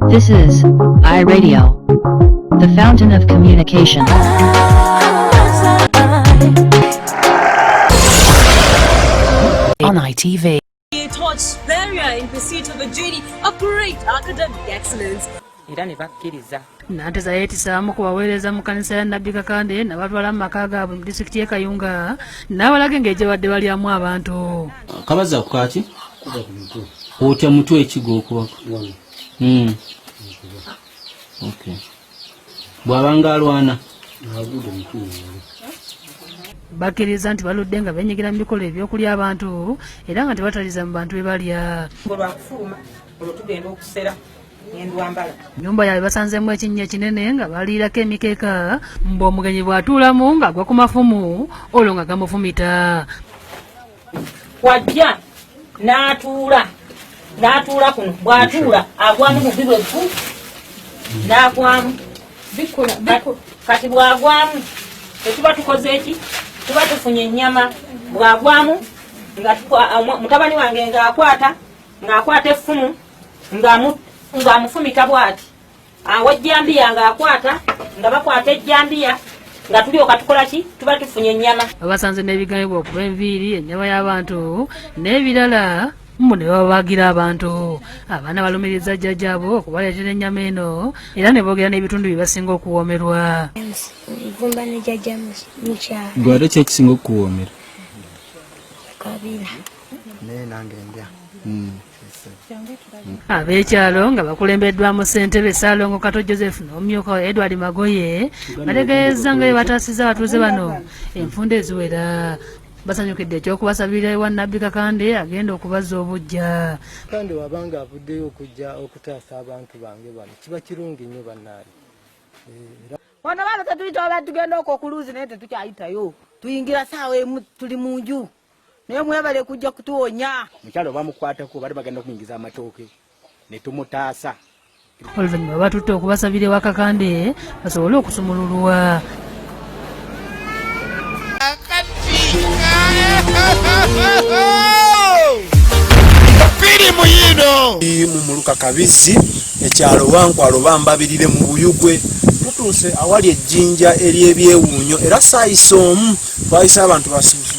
This is iRadio, the fountain of communication. On ITV. He taught Beria in pursuit of a journey of great academic excellence. era ne bakkiriza nanteza yeetisaamu ku baweereza mu kanisa ya nabbi kakande nabatwala mu maka gaabwe mu disitulikiti ye kayunga n'abalage ng'egyebadde balyamu abantu kabaza ku kaaki otya mutwe ekigo okubaku Hmm. bwabanga alwana bakiriza nti baludde nga benyigira mu bikolwa ebyokulya abantu era nga tebataliza mu bantu bebalya nyumba yaabwe basanzemu ekinnya ekinene nga baliirako emikeeka mbu omugenyi bw'atuulamu ng'agwa ku mafumu olwo nga gamufumita wajja n'atuula n'atuula kuno bw'atuula agwamu mu bibwe ku n'agwamu kati bw'agwamu tetuba tukoze eki tuba tufunye ennyama bw'agwamu nga mutabani wange ng'akwata ng'akwata effumu ng'amufumita bw'ati awo ejjambiya nga akwata nga bakwata ejjambiya nga tulyoka tukola ki tuba tufunye ennyama abasanze n'ebigayibwa okuba enviiri ennyama y'abantu n'ebirala mbu ne babagira abantu abaana balumiriza jjajjaabo okubaleetera ennyama eno era ne boogera n'ebitundu bye basinga okuwoomerwa nvumba ne jjajja mukyalo gwe ate kyekisinga okukuwoomera kabira naye nange ndya hmm. Ab'ekyalo nga bakulembeddwamu ssentebe Ssaalongo Kato Joseph n'omumyuka we Edward Magoye bategeezza nga bye bataasizza abatuuze bano enfunda eziwera basanyukidde ekyokubasabirira ewa nabbi kakande agenda okubazza obujja kakande wabanga avuddeyo okujja okutaasa abantu bange bano kiba kirungi nnyo bannaayi eh, wano bano tetuyita oba tugenda okwo okuluuzi naye tetukyayitayo tuyingira saawa emu tuli mu nju Naye mwebale kujja kutuwonya. Mukyalo bamukwatako bali bagenda kumuyingiza amatooke ne tumutaasa. Oluvannyuma batutte okubasabira ewa Kakande basobole okusumululwa. Firimu yiino mu muluka Kabizzi ekyalo Wankwalo bambabirire mu Buyugwe tutuuse awali ejjinja ery'ebyewuunyo era saayisa omu twayise abantu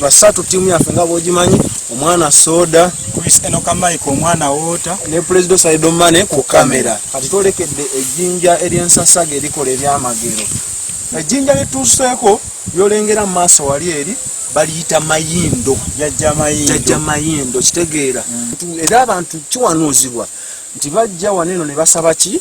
basatu tiimu yaffe nga bwogimanyi omwana soda kristenokamaiko omwana woota ne pulezida osaidomane ku kamera kati twolekedde ejjinja eryensasaga erikola ebyamagero ejjinja lyetuuseeko lyolengera mu maaso wali eri baliyita mayindo jajja mayindo kitegeera mm. era abantu kiwanuuzibwa nti bajja waneno ne basaba ki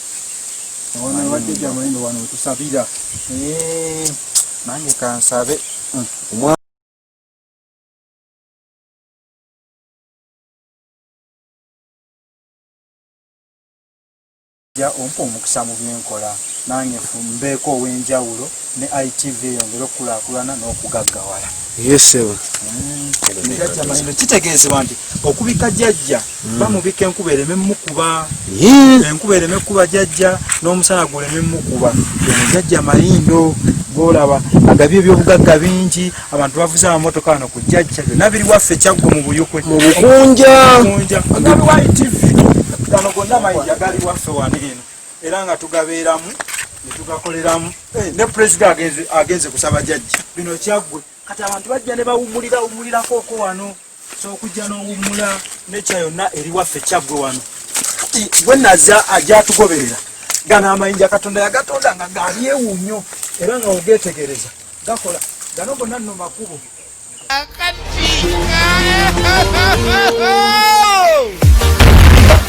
nange kansabe hmm. ja ompa omukisa mu byenkola nange mbeeko ow'enjawulo ne itv eyongere okukulaakulana n'okugaggawala yesebo hmm. kitegeezebwa nti okubika jajja Mm. bamubika enkuba ereme mukuba enkuba ereme kuba jajja n'omusana guleme mukuba eno jajja mayindo golaba agabye ebyobugagga bingi abantu bavuze amamotoka ano ku jajja byonna biri waffe kyaggwa mu buyukwe mu bukunja agabiwayi tv gano gonna mayinja gali waffe wano eno era nga tugabeeramu netugakoleramu eh, ne pulezida agenze kusaba jajja bino kyaggwe kati abantu bajja ne bawumulira wumulirako oko wano kyokujja n'owummula nekya yonna eriwaffe kyaggwe wano kati gwe naza ajatugoberera gano amayinja katonda yagatonda nga galyewu nnyo era nga ogetegereza gakola gano gonna nno makubo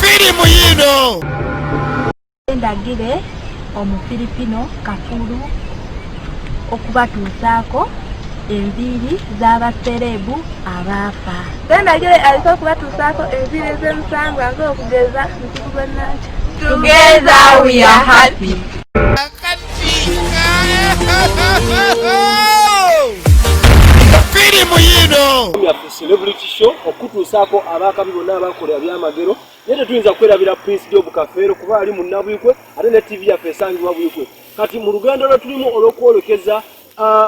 firimu yino Ndagire Omufiripino kafulu okubatuusaako enviiri z'abasereebu abaafa. Ndagire aliko okubatuusaako enviiri ez'emusambwa ng'okugeza muzibu gwa Nankya. Together we are happy. Firimu yino. Celebrity show okutuusaako abaakabi bonna abakola ebyamagero naye tetuyinza kwerabira prince job kafeero kuba ali munnabwikwe ate ne tivi yaffe esangibwa bwikwe kati mu lugendo lwe tulimu olw'okwolekeza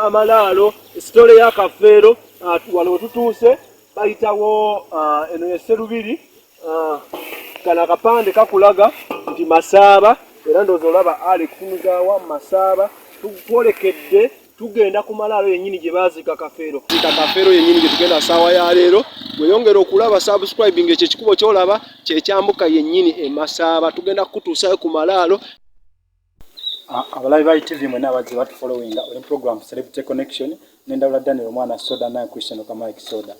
amalaalo sitole ya kafeero wano wetutuuse bayitawo eno yeserubiri kano akapande kakulaga nti masaaba era ndoozi olaba ali kufunuzaawa masaaba tukwolekedde tugenda ku malaalo yennyini gye baaziika kafeero ziika kafeero yennyini gye tugenda saawa ya leero weyongera okulaba subscribing ekyo ekikubo kyolaba kyekyambuka yennyini emasaaba tugenda kukutuusayo ku malaalo abalabi ba itv mwena abazze batufolowinga oli program celebrity connection nendawula daniel omwana soda naye christian okamike soda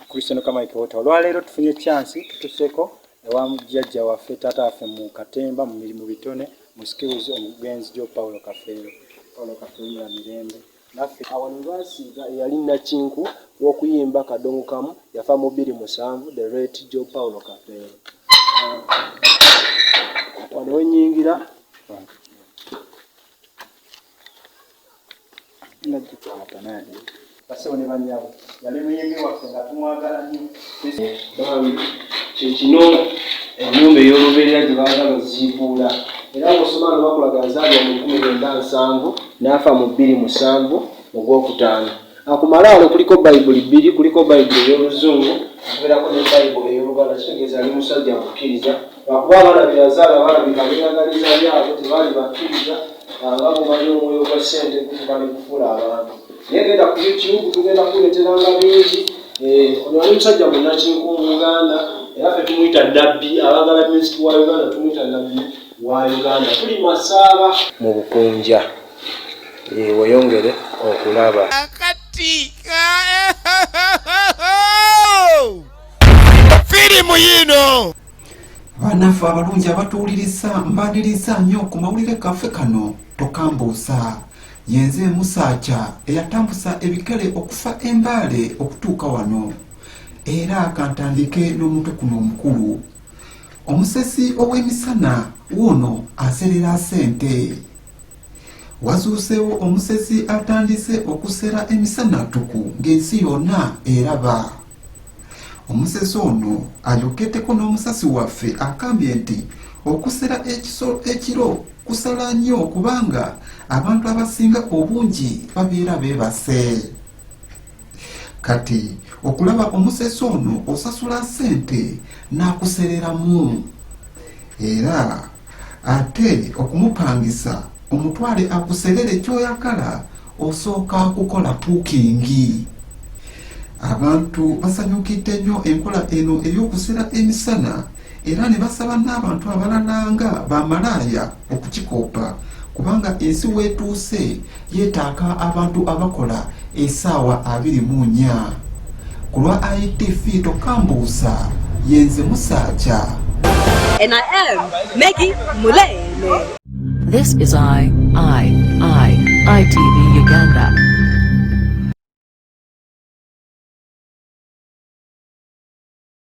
christian okamike wota olwaleero tufunye chansi tutuseko ewa jajja waffe taata waffe mu katemba mu mirimu bitone mu skills omugenzi jo paulo kafeero paulo kafeero mula mirembe naffe awano basiiga eyali nakinku w'okuyimba kadongo kamu yafa mu bbiri musanvu the rate jo paulo kafeero wano wenyingira basebo ne banyabo yali muyege waffe nga tumwagala nnyo kyekino enyumba ey'olubeerera gye baagala oziibuula era ng'osoma nga bakulaga nzaalibwa mu kumi lwenda nsanvu n'afa mu bbiri musanvu mu gwokutaano Ku malaalo kuliko Bayibuli bbiri, kuliko Bayibuli ey'Oluzungu okubeerako ne Bayibuli ey'Oluganda, kitegeeza ali musajja mukkiriza. Lwakuba abaana be yazaala balabika beeyagaliza byabwe, tebaali bakkiriza ah, nga bw'omanyi omwoyo gwa ssente gufuka ne gufuula abantu. Naye genda ku YouTube tugenda kuleeteranga bingi. Eh, ono yali musajja munnakinku mu Uganda era fe tumuyita nabbi, abagala musiki wa Uganda tumuyita nabbi wa Uganda. Tuli masaaba mu Bukunja. weyongere okulaba akati firimu yino banaffe abalungi abatuwuliriza mbaniriza nnyo ku mawulire kaffe kano tokambuusa yenze musaaca eyatambusa ebikere okufa embaale okutuuka wano era kantandike n'omutwe kuno omukulu omusesi ow'emisana wuuno aserera sente Wazuuseewo omusezi atandise okusera emisana ttuku ng'ensi yonna eraba. Omusezi ono ayogeddeko n'omusasi waffe agambye nti okusera ekiso ekiro kusala nnyo kubanga abantu abasinga obungi babeera beebase. kati okulaba omusesi ono osasula sente n'akusereramu era ate okumupangisa omutwale akuserere kyoyagala osooka kukola pukingi abantu basanyukidde nnyo enkola eno ey'okusera emisana era ne basaba n'abantu abalala nga bamalaaya okukikoppa kubanga ensi weetuuse yeetaaka abantu abakola esaawa abiri mu nnya ku lwa itv tokambuusa yenze musaaja And I am Maggie Mulele. This is I, I, I, ITV Uganda.